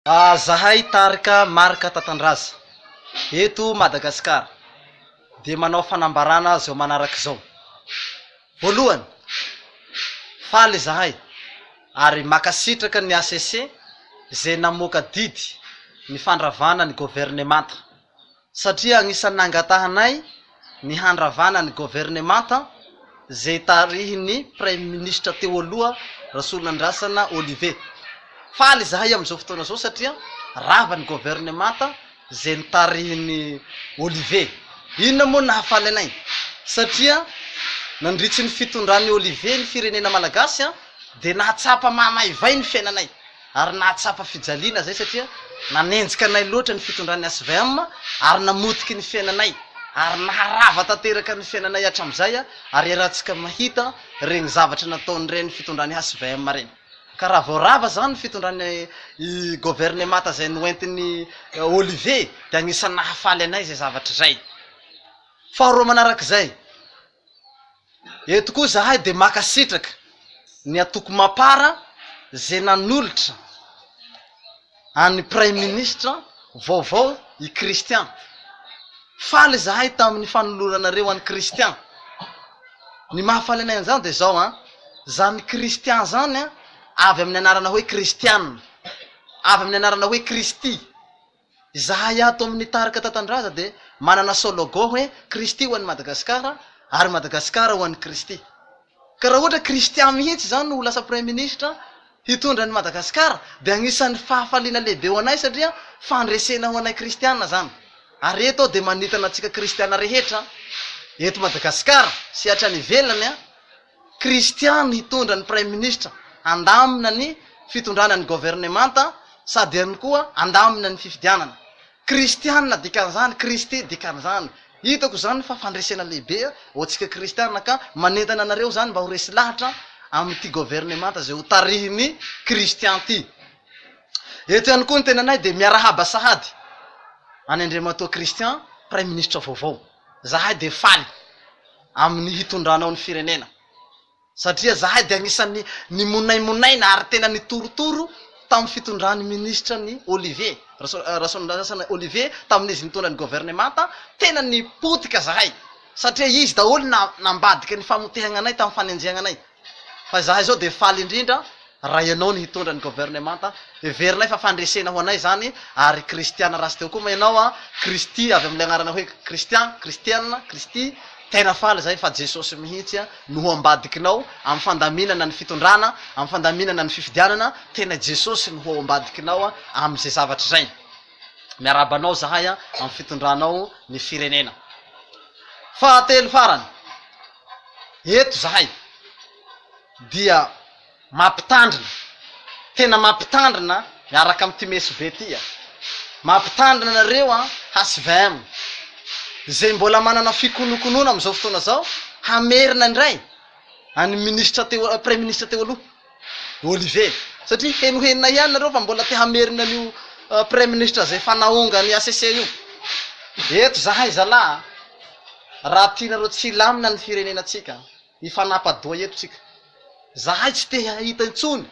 Zahay tarika Marc Tatandraza eto Madagasikara dia manao fanambarana izao manaraka izao, Voalohany, faly izahay ary makasitraka ny hcc izay namoaka didy ny fandravana ny governemanta. satria agnisan'ny nangatahanay ny handravana ny governemanta izay tarihin'ny praiminisitra teo aloha Rasoanandrasana Olivier. Faly izahay amin'izao fotoana izao satria rava ny governemanta izay notarihin'i Olivier. Inona moa no nahafaly anay? Satria nandritry ny fitondran'i Olivier ny firenena malagasy dia nahatsapa mahamaivay ny fiainanay. ary nahatsapa fijaliana izay satria nanenjika anay loatra ny fitondran'ny HVM ary namotiky ny fiainanay ary naharava tanteraka ny fiainanay hatramizay ary iarahantsika mahita reny zavatra nataon'ireny fitondran'ny HVM reny ka raha vao rava zany ny fitondran'ny governemata izay noentin'i Olivier dia anisany nahafaly anay izay zavatra izay faharoa manarak'izay Eto koa zahay dia makasitraka ny Antoko Mapar ze nanolotra an'i Praiminisitra vaovao i Christian. Faly zahay tamin'ny fanoloranareo an'i Christian. Ny mahafaly anay an'izany dia zao an, zany Christian zany an, avy amin'ny anarana hoe Kristiana, avy amin'ny anarana hoe Kristy. Izahay ato amin'ny tarika Tatandraza dia manana sologan hoe Kristy ho an'i Madagasikara ary Madagasikara ho an'i Kristy. Ka raha ohatra Christian mihitsy izany no ho lasa Praiminisitra hitondra an'i Madagasikara dia anisan'ny fahafaliana lehibe ho anay satria fandresena ho anay Kristiana izany. Ary eto aho dia manintona antsika Kristiana rehetra eto Madagasikara sy hatrany ivelany an! Kristiana hitondra ny Praiminisitra handamina ny fitondrana ny Governemanta sady ihany koa handamina ny fifidianana. Kristiana dikan'izany, Kristy dikan'izany. Hitako izany fa fandresena lehibe ho antsika Kristiana ka manentana anareo izany mba ho resy lahatra amin'ity Governemanta izay hotarihin'i Kristy anty. Eto ihany koa ny tenanay dia miarahaba sahady an'i Andriamatoa Christian, Praiminisitra vaovao. zahay dia faly amin'ny hitondranao ny firenena satria zahay dia anisan'ny nimonaimonaina ary tena nitorotoro tamin'ny fitondran'ny minisitra ny Olivier Rasoandrasana Olivier tamin'izy nitondra ny governemanta tena nipotika zahay satria izy daholo nambadika ny famotehana anay tamin'ny fanenjehana anay Fa izahay izao dia faly indrindra raha ianao no hitondra ny governemanta. Heverinay fa fandresena ho anay izany ary kristiana raha tsy teo koa moa ianao an! Kristy avy amin'ilay anarana hoe Kristian, Kristiana, Kristy. Tena faly izahay fa Jesosy mihitsy no ho ambadikinao amin'ny fandaminana ny fitondrana, amin'ny fandaminana ny fifidianana. Tena i Jesosy no ho ao ambadikinao amin'izay zavatra izay. Miarahaba anao izahay amin'ny fitondranao ny firenena. Fahatelo farany. eto zahay dia mampitandrina, tena mampitandrina miaraka amin'ity mesobe ity a! Mampitandrina anareo an, HVM, izay mbola manana fikonokonoana amin'izao fotoana izao, hamerina indray an'ny minisitra teo, praiminisitra teo aloha. Olivier. Satria henohenona ihany nareo fa mbola te hamerina an'io praiminisitra izay efa naonga an'i HCC io. Eto izahay zalahy a! Raha tianareo tsy hilamina ny firenenantsika, hifanapa-doha eto tsika. Izahay tsy te hahita intsony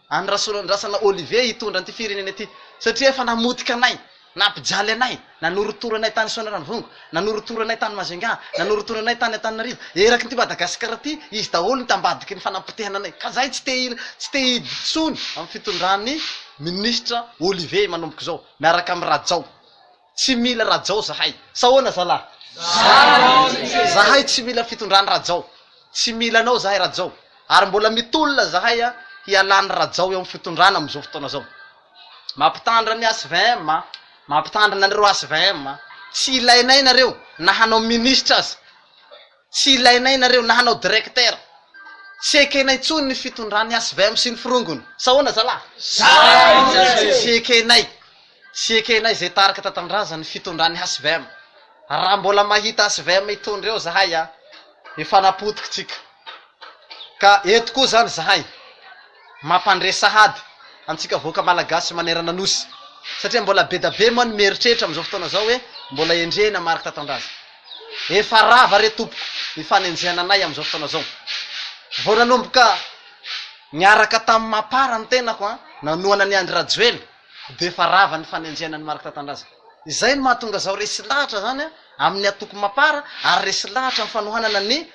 an'i Rasoanandrasana Olivier hitondra an'ity firenena ity satria efa namotika anay Nampijaly anay, nanorotoro anay tany Soanierandrongo, nanorotoro anay tany Majunga, nanorotoro anay tany Antananarivo, eraky ity Madagasikara ity, izy daholo no tambadiky ny fanapotehana anay, ka zahay tsy te tsy te intsony amin'ny fitondran'ny Ministra Olivier manomboka izao, miaraka amin'i Rajao. Tsy mila Rajao zahay. Sa ahoana zalah? Zahay tsy mila fitondran'i Rajao. Tsy mila anao zahay Rajao. Ary mbola mitolona zahay hialan'i Rajao eo amin'ny fitondrana amin'izao fotoana izao. Mampitandra ny HVM a! Mampitandrina anareo HVM a! Tsy ilainay nareo na hanao ministra aza! Tsy ilainay nareo na hanao directeur! Tsy ekenay tsony ny fitondran'ny HVM sy ny firongony! Sa ahoana zalahy? Tsy ekenay! Tsy ekenay zay tarika tantandraza ny fitondran'ny HVM! Raha mbola mahita HVM hitondra eo zahay a! Efa napotiky tsika! Ka eto koa zany zahay mampandre sahady antsika vahoaka malagasy manerana nosy satria mbola bedabe moa ny mieritreritra amin'izao fotoana izao hoe mbola endrena mariky tatandraza. Efa rava re tompoko ny fanenjehana anay amin'izao fotoana izao. Vao nanomboka niaraka tamin'i Mapar ny tenako an, nanohana an'i Andry Rajoelina dia efa rava ny fanenjehana an'i Marc Tatandraza. Izay no mahatonga izao resy lahatra izany an, amin'ny antoko Mapar ary resy lahatra ny fanohanana ny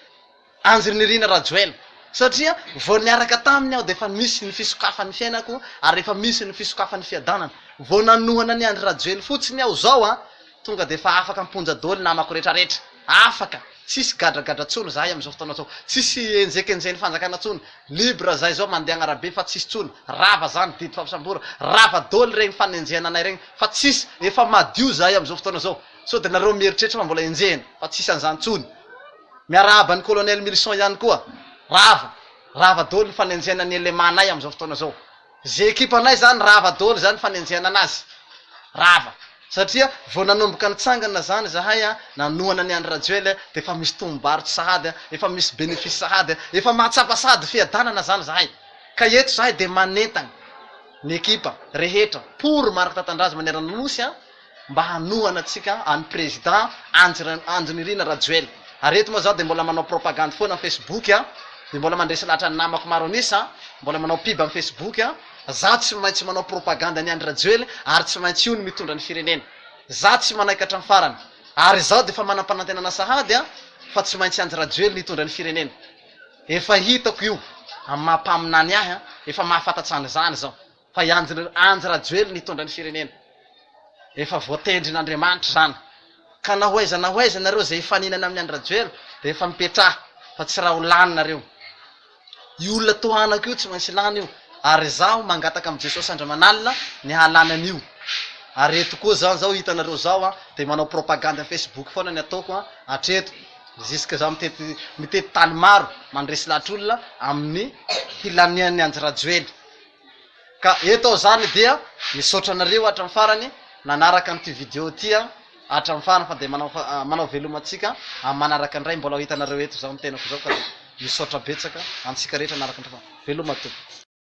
Andry Nirina Rajoelina, satria vao niaraka taminy aho dia efa misy ny fisokafan'ny fiainako ary efa misy ny fisokafan'ny fiadanana. Vao nanohana an'i Andry Rajoely fotsiny aho izao an, tonga dia efa afaka am-ponja daholo ny namako rehetrarehetra. Afaka, tsisy gadragadra intsony izahay amin'izao fotoana izao. Tsisy enjekenjen'ny fanjakana intsony. Libre izahay izao mandeha agn'arabe fa tsisy intsony. Rava izany didy fampisamborana. Rava daholo ireny fanenjehana anay ireny fa tsisy. Efa madio izahay amin'izao fotoana izao. Sao dia nareo mieritreritra fa mbola enjehina. Fa tsisy an'izany intsony. Miarahaba an'i Colonel Milson ihany koa. Rava, rava daholo ny fanenjehana ny LMA-nay amin'izao fotoana izao. Izay ekipanay izany rava daholo izany fanenjehana anazy. Rava. Satria vao nanomboka nitsangana izany izahay, nanohana an'i Andry Rajoelina, dia efa misy tombom-barotra sahady, efa misy bénéfice sahady, efa mahatsapa sahady fiadanana izany izahay. Ka eto izahay dia manentana ny ekipa rehetra pour Marc Tatandraza manerana ny Nosy, mba hanohana antsika an'i Président Andry Nirina Rajoelina. Ary eto moa zaho dia mbola manao propagande foana amin'ny Facebook a, dia mbola mandresy lahatra ny namako maro an'isa, mbola manao pub amin'ny Facebook a, zaho tsy maintsy manao propagande an'i Andry Rajoelina ary tsy maintsy io no mitondra ny firenena. Zaho tsy manaiky hatramin'ny farany. Ary izaho dia efa manam-panantenana sahady a, fa tsy maintsy Andry Rajoelina hitondra ny firenena. Efa hitako io amin'ny maha mpaminany ahy a, efa mahafantatsa an'izany izao. Fa i Andry Rajoelina hitondra ny firenena. Efa voatendrin' Andriamanitra izany. Ka na ho aiza na ho aiza nareo izay hifaninana amin'i Andry Rajoelina dia efa mipetraha fa tsy raha ho lany nareo. Io olona tohanako io tsy maintsy lany io ary izaho mangataka amin'i Jesosy Andramanalina ny hahalany an'io. Ary eto koa izao izao hitanareo izao an dia manao propagande facebook foana ny ataoko an hatreto jusque izaho mitety mitety tany maro mandresy lahatr'olona amin'ny hilanian'i Andry Rajoely. Ka eto aho zany dia misaotra anareo hatramin'ny farany nanaraka an'ity video ity an, hatramin'ny farany fa dia manao manao veloma antsika amin'ny manaraka indray mbola ho hitanareo eto izao ny tenako izao ka dia misaotra betsaka antsika rehetra nanaraka indray fa veloma tompoko.